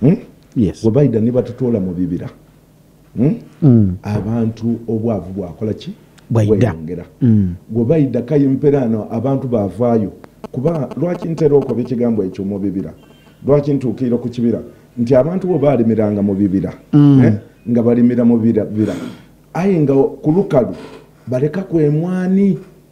hmm? yes. webaida nebatutoola mu bibira hmm? mm. abantu obwavu bwakola ki bweyongera mm. webaida kayimperaano abantu bavaayo kuba lwaki ntera okoba ekigambo ekyo mu bibira lwaki ntuukirira ku kibira nti abantu bo baalimiranga mu bibira mm. eh? nga balimira mu bibira aye nga ku lukalu baleka kwemwani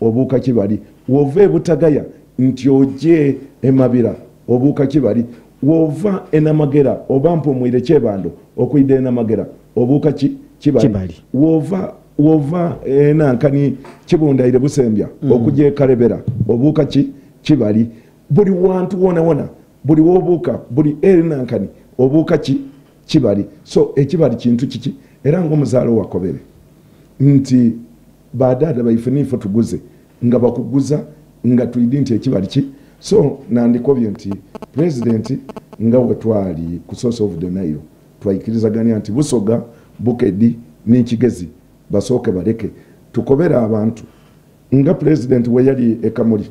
obuuka kibali wova ebutagaya nti oje emabira obuuka kibali wova enamagera oba mpumwire kyebando okuida enamagera obuuka ki kibali wova wova enankani kibundaire busembya mm. okuja ekarebera obuuka ki kibali buli wantu wona wona buli wobuuka buli enankani obuuka ki kibali so ekibali kintu kiki era ngaomuzaalo wakobere nti badaada baife nife tuguze nga bakuguza nga tuidi nti ekibali ki so nandikobye nti pulezidenti nga wetwali ku source of the nile twayikirizaganya nti busoga bukedi nekigezi basooke baleke tukobere abantu nga pulezidenti weyali ekamuli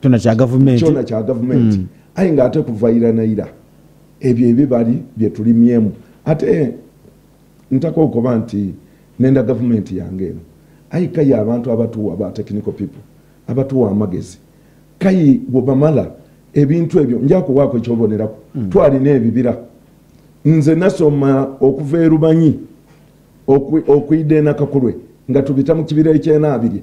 kyona kya gavumenti kyona kya gavumenti mm. aye nga ate kuvaira naira ebyo ebibali byetulimyemu ate ntaka okuba nti nenda gavumenti yange eno ayi kayi abantu abatuwa ba technical people abatuwa amagezi kayi webamala ebintu ebyo njakuwaako ekyobonerako mm. twalina ebibira nze nasoma okuva erubanyi okuida enakakulwe nga tubita mu kibira ekyenaabiri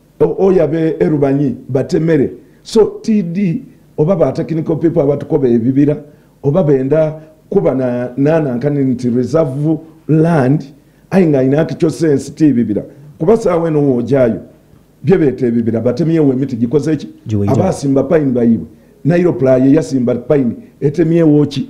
oya be erubanyi batemere so td oba ba technical people abatukoba ebibira oba benda kuba na nana nkani nti reserve land ayi nga ina kicho sense ti bibira kuba sawe no wojayo bye bete ebibira batemye we miti gikoze ki abasimba pine bayiwe nairo playe yasimba pine etemye wochi